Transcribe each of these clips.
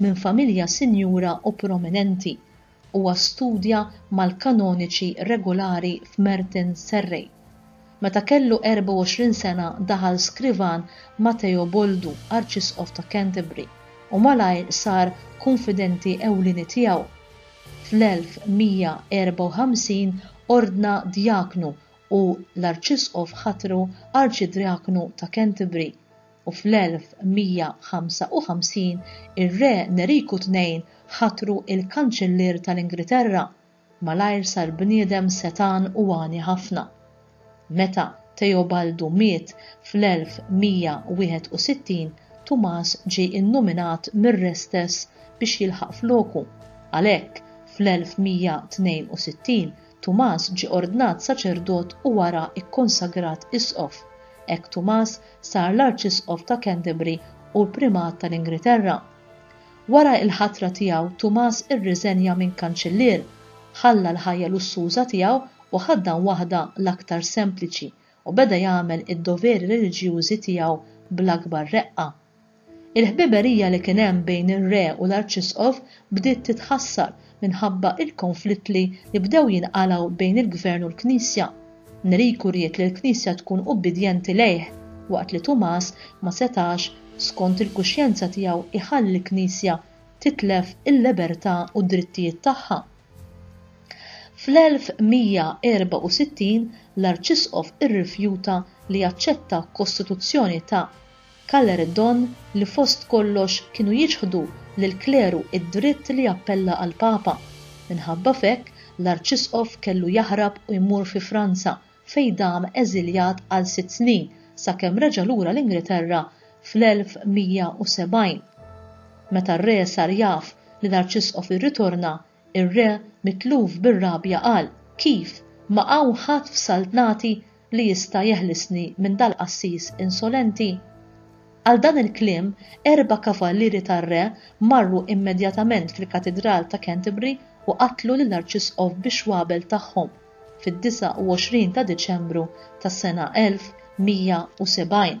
Minn familja sinjura u prominenti, huwa studja mal-kanoniċi regulari f'Merton Serrej. Meta kellu 24 sena daħal skrivan ma' Teoboldu, Arċisqof ta' Canterbury, u malajr sar kunfidenti ewlieni tiegħu. Fl-1154 ordna djaknu u l-Arċisqof ħatru Arċidrjaknu ta' Canterbury. u fl-1155 ir-Re Neriku Tnejn ħatru l-Kanċillier tal-Ingriterra, malajr sar bniedem setgħan u għani ħafna. Meta Teobaldu miet fl-1161, Tumas ġie nnominat mir-Re stess biex jilħaq floku, għalhekk fl-1162 Tumas ġie ordnat saċerdot u wara kkonsagrat isqof. Hekk Tumas sar l-Arċisqof ta' Canterbury u l-Primat tal-Ingriterra. Wara il-ħatra tiegħu Tumas irriżenja minn Kanċillier, ħalla l-ħajja lussuża tiegħu u ħaddan waħda l-aktar sempliċi u beda jagħmel id-doveri reliġjużi tiegħu bl-akbar reqqa. Il-ħbiberija li kien hemm bejn ir-Re u l-Arċisqof bdiet titħassar minħabba l-konflittli li bdew jinqalgħu bejn il-Gvern u l-Knisja. Neriku ried li l-Knisja tkun ubbidjenti lejh, waqt li Tumas ma setax, skont il-kuxjenza tiegħu jħalli l-Knisja titlef il-libertà u d-drittijiet tagħha. Fl-1164 l-Arċisqof irrifjuta li jaċċetta kostituzzjoni ta' Kaller iddonn li fost kollox kienu jiċħdu lill-kleru d-dritt li jappella għall-Papa. Minħabba f'hekk, l-Arċisqof kellu jaħrab u jmur fi Franza fejn dam eżiljat għal sitt snin sakemm reġa' lura l-Ingilterra fl-1170. Meta r-Re sar jaf li l-Arċisqof irritorna, Ir-re, mitluf bir-rabja qal, Kif, ma hawn ħadd f'saltnati li jista' jeħlisni minn dal-qassis insolenti? Għal dan il-kliem, erba' kavallieri tar-re marru immedjatament fil-Katidral ta' Canterbury u qatlu lill-Arċisqof bixwabel tagħhom, fid-29 ta' Diċembru tas-sena 1170.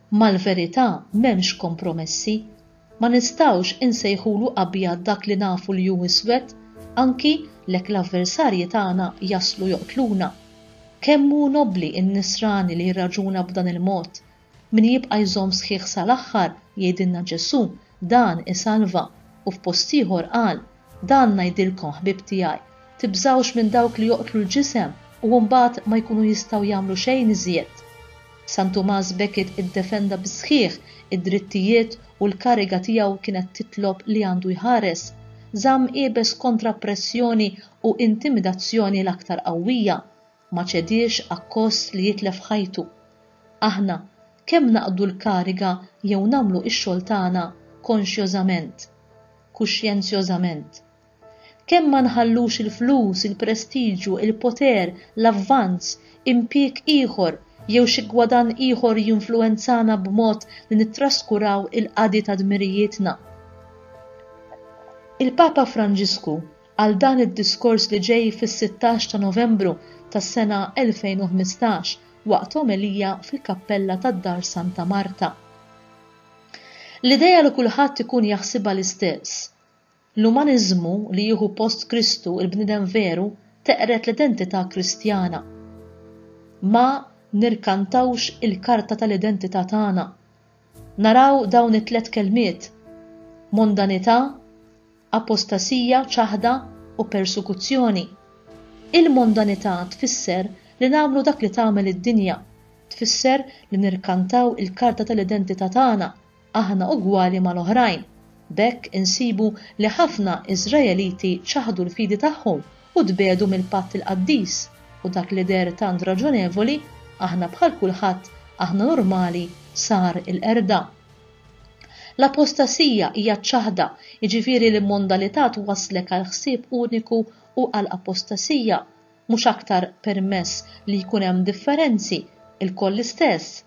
Mal-verità m'hemmx kompromessi. Ma nistgħux insejħulu abjad dak li nafu li hu iswed, anki lek l-avversarji tagħna jaslu joqtluna. Kemm hu nobbli n-nisrani li jirraġuna b'dan il-mod! Min jibqa' jżomm sħiħ sal-aħħar, jgħidilna Ġesù, Dan isalva. U f'post ieħor qal, Dan ngħidilkom, ħbieb tiegħi, tibżgħux minn dawk li joqtlu l-ġisem u mbagħad ma jkunu jistgħu jagħmlu xejn iżjed. San Tumas Becket iddefenda bis-sħiħ id-drittijiet u l-kariga tiegħu kienet titlob li għandu jħares, żamm iebes kontra pressjoni u intimidazzjoni l-aktar qawwija. Ma ċediex akkost li jitlef ħajtu. Aħna, kemm naqdu l-kariga jew nagħmlu x-xogħol tagħna konxjożament, kuxjenzjożament. Kemm ma nħallux il-flus, il-prestiġju, il-poter, l-avvanz, impieg ieħor jew xi gwadann ieħor jinfluwenzana b'mod li nittraskuraw il-qadi ta' dmirijietna. Il-Papa Franġisku għal dan id-diskors li ġej fis-sittax ta' Novembru tas-sena 2015 waqt omelija fil-kappella tad-Dar Santa Marta. L-idea li kulħadd ikun jaħsibha l-istess. L-umaniżmu li jieħu post Kristu il-bniedem veru teqred l-identità Kristjana. Ma nirkantawx il-karta tal-identità tagħna. Naraw dawn it-tliet kelmiet, mondanità, apostasija, ċaħda, u persekuzzjoni. Il-mondanità tfisser li nagħmlu dak li tagħmel id-dinja, tfisser li nirkantaw il-karta tal-identità tagħna, aħna ugwali mal-oħrajn, B'hekk insibu li ħafna Iżraeliti ċaħdu l-fidi tagħhom u tbiegħdu mill-patt il-qaddis, u dak li deher tant raġonevoli, aħna bħal kulħadd, aħna normali, sar il-qerda. L-apostasija hija ċ-ċaħda, jiġifieri l-immondalità twasslek għal ħsieb uniku u għal apostasija. Mhux aktar permess li jkun hemm differenzi, ilkoll l-istess.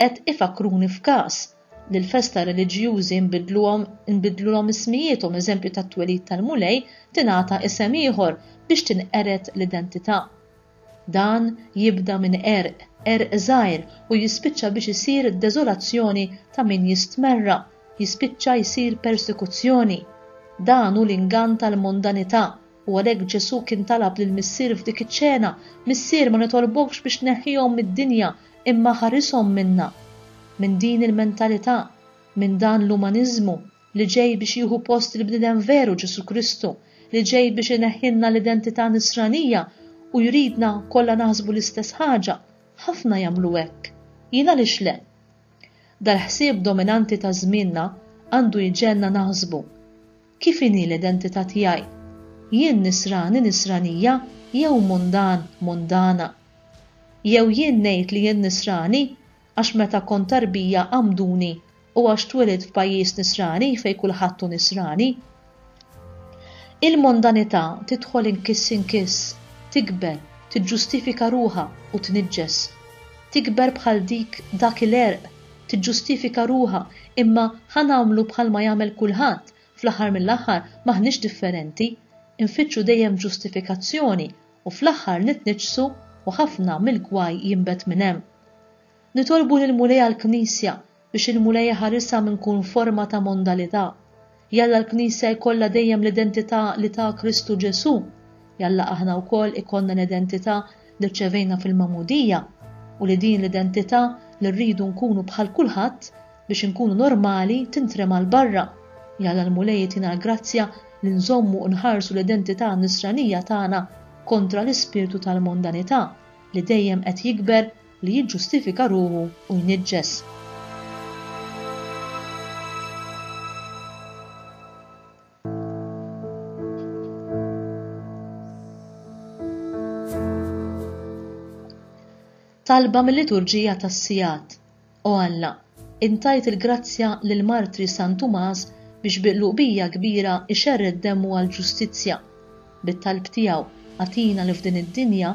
Qed ifakkruni f'każ, li l-festa reliġjużi nbiddluhom inbiddlulhom ismijiethom eżempju tat-twelid tal-Mulej tingħata isem ieħor biex tinqered l-identità. Dan jibda minn qerq, qerq żgħir u jispiċċa biex isir deżolazzjoni ta' min jistmerra, jispiċċa jsir persekuzzjoni. Dan hu l-ingann tal-mondanità u għalhekk Ġesù kien talab lill-Missier f'dik iċ-ċena, Missier ma nitolbokx biex tneħħihom mid-dinja, Imma ħarishom minnha, minn din il-mentalità, minn dan l-umaniżmu li ġej biex jieħu post il-bniedem veru Ġesù Kristu li ġej biex ineħħilna l-identità nisranija u jridna kollha naħsbu l-istess ħaġa, ħafna jagħmlu hekk. Jien għaliex le? Dal-ħsieb dominanti ta' żmienna għandu jġegħelna naħsbu. Kif inhi l-identità tiegħi? Jien Nisrani, Nisranija jew mundan, mundana? Jew jien ngħid li jien Nisrani għax meta kont tarbija għammduni u għax twelidt f'pajjiż Nisrani fejn kulħadd hu Nisrani? Il-mondanità tidħol inkiss inkiss, tikber, tiġġustifika ruħha u tniġġes. Tikber bħal dik dak il-għerq tiġġustifika ruħha, imma ħa nagħmlu bħal ma jagħmel kulħadd, fl-aħħar mill-aħħar m'aħniex differenti. Infittxu dejjem ġustifikazzjoni u fl-aħħar nitniġġsu u ħafna mill-gwaj jinbet minn hemm. Nitolbu lill-Mulej għall-Knisja biex il-Mulej iħarisha minn kull forma ta' mondalità. Jalla l-Knisja jkollha dejjem l-identità li ta Kristu Ġesù. Jalla aħna wkoll ikollna l-identità li rċevejna fil-Magħmudija, u li din l-identità li rridu nkunu bħal kulħadd biex inkunu normali tintrema' 'l barra. Jalla l-Mulej itina l-grazzja li nżommu u nħarsu l-identità Nisranija tagħna kontra l-ispirtu tal-mondanità li dejjem qed jikber li jiġġustifika ruħu u jniġġes. Talba mill-liturġija tas-sigħat. O Alla, intajt il-grazzja lil martri San Tumas biex bi qlubija kbira ixerred demmu għall-ġustizzja. Bit-talb tiegħu, agħtina li f'din id-dinja